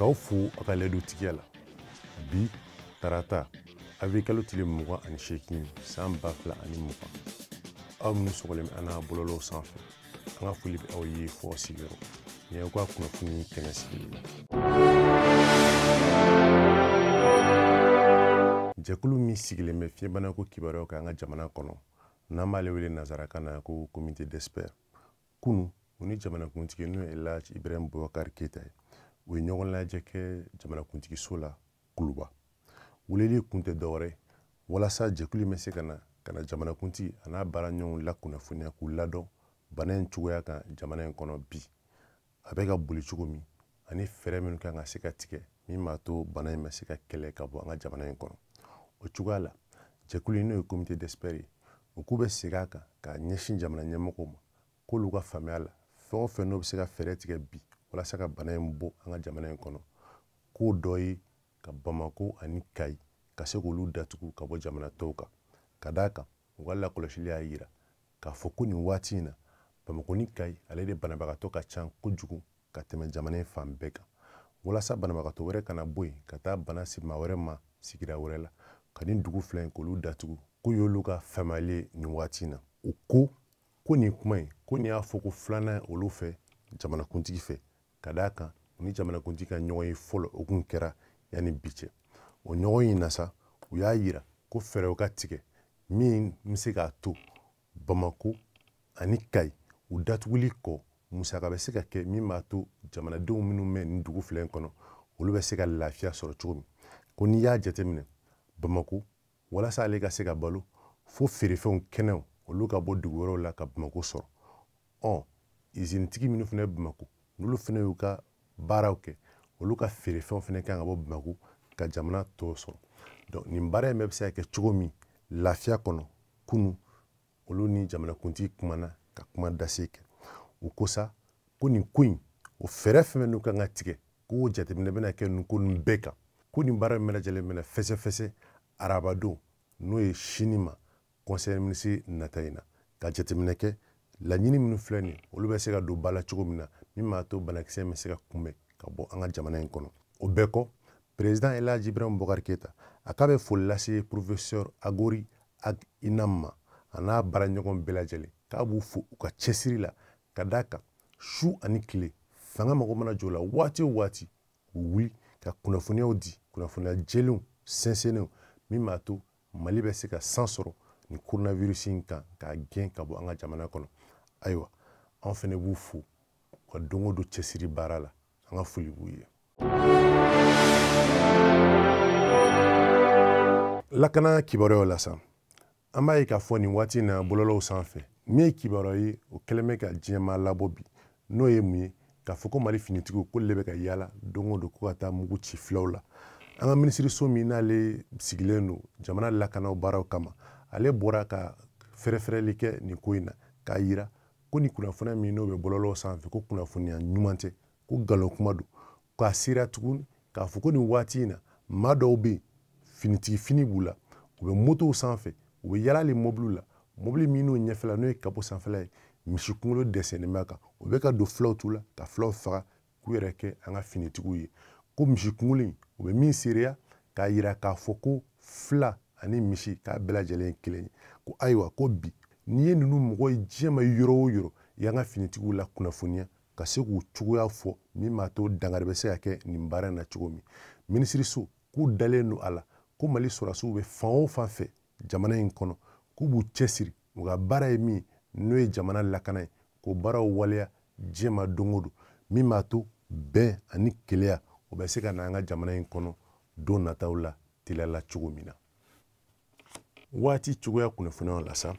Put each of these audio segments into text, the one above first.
k'aw fo a ka layidutigiya la bi tarata avril kalo tile mugan ani seegin san ba fila ani mugan aw minnu sɔgɔlen bɛ an na bɔlɔlɔw sanfɛ an ka foli bɛ aw ye f'aw sigiyɔrɔ nin y'aw ka kunnafoni kɛnɛ sigili la jɛkulu min sigilen bɛ fiɲɛbanako kibaruyaw kan an ka jamana kɔnɔ n'an b'ale wele nazarakan na ko comité d'experts kunu u ni jamanakuntigi n'o ye elaj ibrahim bubakar keyita ye u ye ɲɔgɔn lajɛ kɛ jamanakuntigiso la kuluba weleli kun tɛ dɔwɛrɛ walasa jɛkulu in bɛ se ka na ka na jamanakuntigi an'a baaraɲɔgɔnw lakunnafoniya k'u ladɔn bana in cogoya kan jamana in kɔnɔ bi a bɛ ka boli cogo min ani fɛɛrɛ minnu kan ka se ka tigɛ min b'a to bana in bɛ se ka kɛlɛ ka bɔ an ka jamana in kɔnɔ o cogoya la jɛkulu in n'o ye comité d'experts ye u k'u bɛ segin a kan ka ɲɛsin jamana ɲɛmɔgɔw ma k'olu ka faamuya la fɛn o fɛn n'o bɛ se ka fɛɛrɛ tigɛ bi walasa ka bana in bɔ an ka jamana in kɔnɔ k'o dɔ ye ka bamako ani kayi ka se k'olu datugu ka bɔ jamana tɔw kan ka d'a kan u ka lakɔlɔsili y'a yira k'a fɔ ko nin waati in na bamakɔ ni kayi ale de banabagatɔ ka ca kojugu ka tɛmɛ jamana in fan bɛɛ kan walasa banabagatɔ wɛrɛ kana bɔ yen ka taa bana si maa wɛrɛ ma sigida wɛrɛ la ka nin dugu fila in k'olu datugu k'o y'olu ka faamuyali ye nin waati in na u ko ko nin kuma in ko nin y'a fɔko filanan olu fɛ jamanakuntigi fɛ ka d'a kan u ni jamanakuntigi ka ɲɔgɔn ye fɔlɔ o kun kɛra yanni bi cɛ o ɲɔgɔn in na sa u y'a yira ko fɛɛrɛw ka tigɛ min bɛ se k'a to bamako ani kayi u datuguli kɔ musaka bɛ se ka kɛ min b'a to jamanadenw minnu bɛ nin dugu fila in kɔnɔ olu bɛ se ka lafiya sɔrɔ cogo min ko n'i y'a jateminɛ bamako walasa ale ka se ka balo fo feerefɛnw kɛnɛw olu ka bɔ dugu wɛrɛw la ka bamako sɔrɔ ɔ izinitigi minnu fana bɛ bamako n'olu fana y'u ka baaraw kɛ olu ka feerefɛnw fana kan ka bɔ bamako ka jamana tɔw sɔrɔ donc nin baara in bɛɛ bɛ se ka kɛ cogo min lafiya kɔnɔ kunu olu ni jamanakuntigi kumana ka kuma dase kɛ u ko sa ko nin ko in o fɛɛrɛ fɛn fɛn n'u kan ka tigɛ ko jateminɛ bɛna kɛ nin ko nin bɛɛ kan ko nin baara bɛɛ lajɛlen bɛna fɛsɛfɛsɛ arabadon n'o ye sini ma conseil minisiri nata in na ka jateminɛ kɛ laɲini minnu filɛ nin olu bɛ se ka don ba la cogo min na min b'a to banakisɛ bɛ se ka kunbɛn ka bɔ an ka jamana in kɔnɔ o bɛɛ kɔ président elhaji ibrahim bubakar keyita a k'a bɛ foli lase professeur akory ak inam ma a n'a baaraɲɔgɔn bɛɛ lajɛlen k'a b'u fo u ka cɛsiri la ka d'a kan su ani tile fanga mago mana jɔ u la waati o waati u wuli ka kunnafoniyaw di kunnafoniya jɛlenw sɛnsɛnnenw min b'a to mali bɛ se ka san sɔrɔ nin coronavirus in kan k'a gɛn ka bɔ an ka jamana kɔnɔ ayiwa anw fɛnɛ b'u fo u ka don o don cɛsiri baara la an ka foli b'u ye lakana kibaruyaw la sa an b'a ye k'a fɔ nin waati in na bɔlɔlɔw sanfɛ min ye kibaruya ye o kɛlen bɛ ka diɲɛmaa labɔ bi n'o ye mun ye k'a fɔ ko mali finitigiw k'olu le bɛ ka yaala don o don ko ka taa mugu ci filaw la an ka minisiriso min n'ale sigilen don jamana lakanaw baaraw kama ale bɔra ka fɛrɛfɛrɛli kɛ nin ko in na k'a yira ko nin kunnafoniya min n'o bɛ bɔlɔlɔw sanfɛ ko kunnafoniya ɲuman tɛ ko nkalon kuma don k'a sera tuguni k'a fɔ ko nin waati in na maa dɔw bɛ yen finitigi fini b'u la u bɛ motow sanfɛ u bɛ yaala hali mɔbiliw la mɔbili min n'o ɲɛfɛla n'o ye kapo sanfɛla ye misi kunkolo dɛsɛn b'a kan u bɛ ka don filaw tu la ka filaw faga k'u yɛrɛ kɛ an ka finitigiw ye ko misi kungolo in u bɛ min seereya k'a yira k'a fɔ ko fila ani misi k'a bɛɛ lajɛlen ye kelen ye ko ayiwa ko bi n'i ye ninnu mɔgɔ ye diɲɛ ma yɔrɔ o yɔrɔ i y'an ka finitigiw la kunnafoniya ka se k'u cogoya fɔ min b'a to dangari bɛ se ka kɛ nin baara in na cogo min minisiriso k'u dalen don a la ko mali sɔrɔdasiw bɛ fan o fan fɛ jamana in kɔnɔ k'u b'u cɛsiri u ka baara ye min n'o ye jamana lakana ye k'o baaraw waleya diɲɛ ma don o don min b'a to bɛn ani kelenya o bɛ se ka na an ka jamana in kɔnɔ don nataw la teliya la cogo min na waati cogoya kunnafoniyaw la sa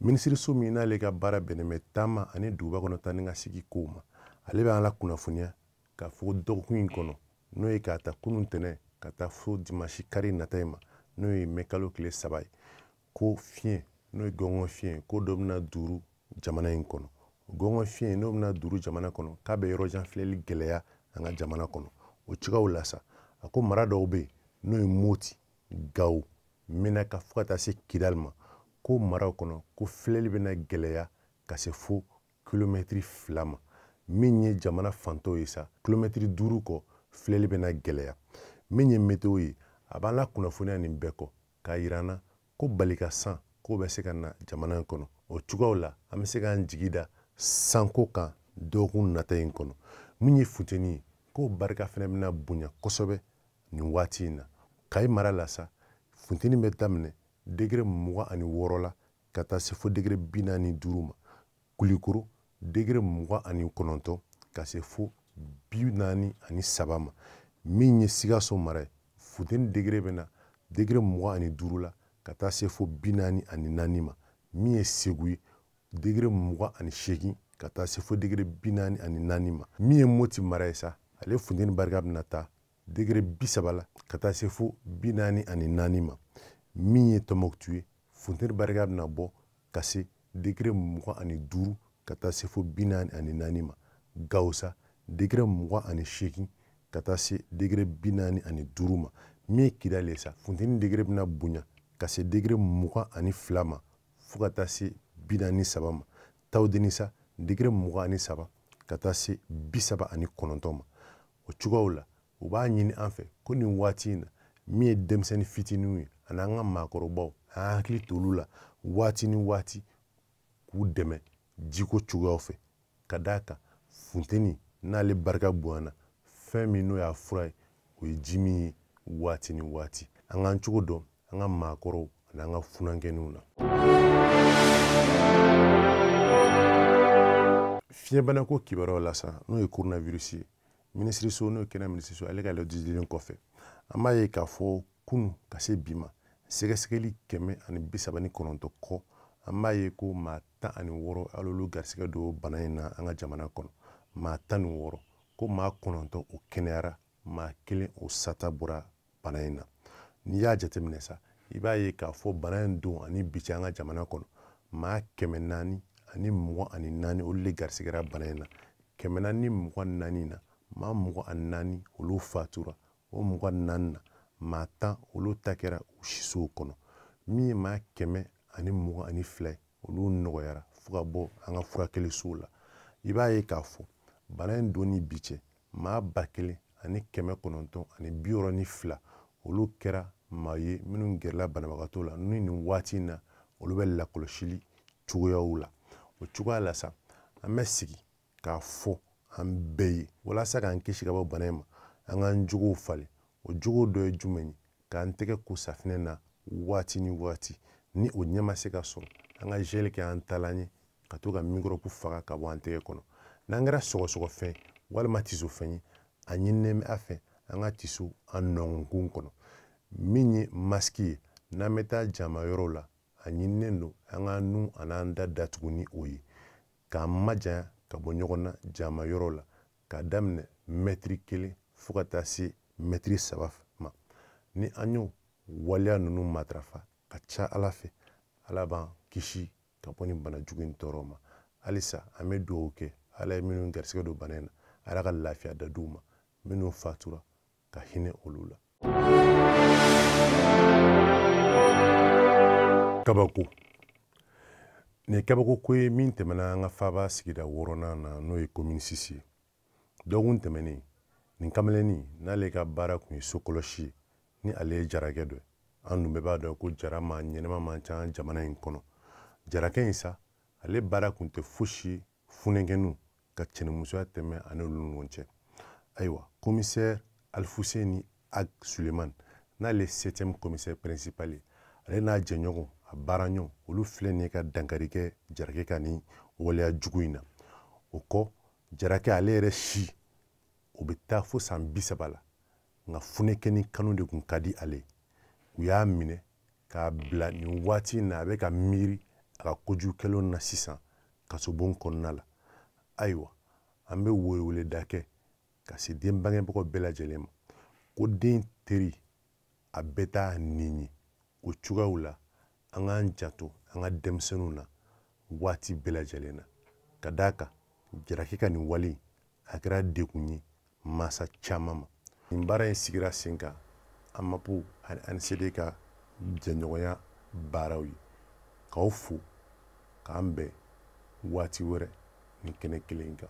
minisiriso min n'ale ka baara bɛnnen bɛ taama ani duguba kɔnɔ taa ni ka segin kow ma ale bɛ an la kunnafoniya k'a fɔ dɔgɔkun in kɔnɔ n'o ye k'a ta kunun tɛnɛn ka taa fo dimansi kari nata in ma n'o ye mɛ kalo tile saba ye ko fiɲɛ n'o ye gɔngɔn fiɲɛ ko dɔ bɛna duuru jamana in kɔnɔ gɔngɔn fiɲɛ n'o bɛna duuru jamana kɔnɔ k'a bɛ yɔrɔ jan filɛli gɛlɛya an ka jamana kɔnɔ o cogoyaw la sa a ko mara dɔw bɛ yen n'o ye moti gawo menaka fo ka taa se kidali ma k'o maraw kɔnɔ ko filɛli bɛna gɛlɛya ka se fo kilomɛtiri fila ma min ye jamana fan tɔw ye sa kilomɛtiri duuru kɔ filɛli bɛna gɛlɛya min ye meteo ye a b'an la kunnafoniya nin bɛɛ kɔ k'a yira an na ko balika san k'o bɛ se ka na jamana in kɔnɔ o cogoyaw la an bɛ se k'an jigi da sanko kan dɔgɔkun nata in kɔnɔ min ye funteni ye k'o barika fɛnɛ bɛna bonya kosɛbɛ nin waati in na kayi mara la sa funteni bɛ daminɛ degere mugan ani wɔɔrɔ la ka taa se fo degere bi naani ni duuru ma kulikoro degere mugan ani kɔnɔntɔn ka se fo bi naani ani saba ma min ye sikaso mara ye funteni degere bɛ na degere mugan ani duuru la ka taa se fo bi naani ani naani ma min ye segu ye degere mugan ani seegin ka taa se fo degere bi naani ani naani ma min ye moti mara ye sa ale funteni barika bɛna taa degere bi saba la ka taa se fo bi naani ani naani ma min ye tɔmɔkutu ye funteni barika bɛna bɔ ka se degere mugan ani duuru ka taa se fo bi naani ani naani ma gawo sa degere mugan ani seegin ka taa se degere bi naani ani duuru ma min ye kidali ye sa funteni degere bɛna bonya ka se degere mugan ani fila ma fo ka taa se bi naani saba ma tawudeni sa degere mugan ani saba ka taa se bi saba ani kɔnɔntɔn ma o cogoyaw la u b'a ɲini an fɛ ko nin waati in na min ye denmisɛnnin fitininw ye ani an ka maakɔrɔbaw an y'an hakili t'olu la waati ni waati k'u dɛmɛ jiko cogoyaw fɛ ka d'a kan funteni n'ale barika bonyana fɛn min n'o y'a fura ye o ye ji min ye waati ni waati an k'an cogo dɔn an ka maakɔrɔw ani an ka funankɛninw na fiɲɛbanako kibaruyaw la sa n'o ye coronavirus ye minisiriso n'o ye kɛnɛya minisiriso ale ka lajɛli kɔfɛ an b'a ye k'a fɔ kunu ka se bi ma sɛgɛsɛgɛli kɛmɛ ani bi saba ni kɔnɔntɔ kɔ an b'a ye ko maa tan ani wɔɔrɔ alolu garisigɛ don bana in na an ka jamana kɔnɔ maa tan ni wɔɔrɔ ko maa kɔnɔntɔ o kɛnɛyara maa kelen o sata bɔra bana in na n'i y'a jateminɛ sa i b'a ye k'a fɔ bana in don ani bi cɛ an ka jamana kɔnɔ maa kɛmɛ naani ani mugan ani naani olu de garisigɛra bana in na kɛmɛ naani mugan naani na maa mugan ani naani olu fatura o mugan naani na maa tan olu ta kɛra u sisow kɔnɔ min ye maa kɛmɛ ani mugan ani fila ye olu nɔgɔyara fo ka bɔ an ka furakɛli sow la i b'a ye k'a fɔ bana in don ni bi cɛ maa ba kelen ani kɛmɛ kɔnɔntɔn ani bi wɔɔrɔ ni fila olu kɛra maa ye minnu gɛrɛla banabagatɔw la ni nin waati in na olu bɛ lakɔlɔsili cogoyaw la o cogoya la sa an bɛ segin k'a fɔ an bɛɛ ye walasa k'an kisi ka bɔ bana in ma an k'an jogow falen o jogo dɔ ye jumɛn ye k'an tɛgɛ ko safinɛ na waati ni waati ni o ɲɛ ma se ka sɔrɔ an ka zɛli kɛ an taalan ye ka to ka mikɔrɔbu faga ka bɔ an tɛgɛ kɔnɔ n'an kɛra sɔgɔsɔgɔfɛn walima tisofɛn ye a ɲininen bɛ an fɛ an ka tiso an nɔnkɔn kɔnɔ min ye masiki ye n'an bɛ taa jama yɔrɔw la a ɲininen don an k'an nun an'an da datugu ni o ye k'an majanya ka bɔ ɲɔgɔn na jama yɔrɔ la k'a daminɛ mɛtiri kelen fo ka taa se mɛtiri saba ma ni an y'o waleya ninnu matarafa ka ca ala fɛ ala b'an kisi ka bɔ nin bana jugu in tɔɔrɔ ma halisa an bɛ dugawu kɛ ala ye minnu garisigɛ don bana in na ala ka lafiya da d'u ma minnu fatura ka hinɛ olu la kabako nin ye kabako ko ye min tɛmɛna an ka faaba sigida wɔɔrɔnan na n'o ye komini sisi ye dɔgɔkun tɛmɛnen nin kameleni n'ale ka baara kun ye sokɔlɔsi ye ni ale ye jarakɛ dɔ ye an dun bɛɛ b'a dɔn ko jara maa ɲɛnɛma man ca jamana in kɔnɔ jarakɛ in sa ale baara kun tɛ fosi ye funɛnkɛninw ka cɛnimusoya tɛmɛ ani olu ni ɲɔgɔn cɛ ayiwa komisɛri alifuseni ag suleyiman n'ale septième commissaire principal ye ale n'a jɛɲɔgɔn a baaraɲɔgɔn olu filɛ nin ye ka dankari kɛ jarakɛ ka nin waleya jugu in na o kɔ jarakɛ ale yɛrɛ si o bɛ taa fo san bi saba la nka funɛnkɛnin kanu de kun ka di ale u y'a minɛ k'a bila nin waati in na a bɛ ka miiri a ka kojugu kɛlenw na sisan kasobon kɔnɔna la ayiwa an bɛ weleweleda kɛ ka se den bangebagaw bɛɛ lajɛlen ma ko den teriya bɛ taa nin ye o cogoyaw la an k'an janto an ka denmisɛnninw na waati bɛɛ lajɛlen na ka d'a kan jarakɛ ka nin wale a kɛra degun ye masa caman ma nin baara in sigira sen kan amapu ani anisede ka jɛɲɔgɔnya baaraw ye k'aw fo k'an bɛn waati wɛrɛ nin kɛnɛ kelen kan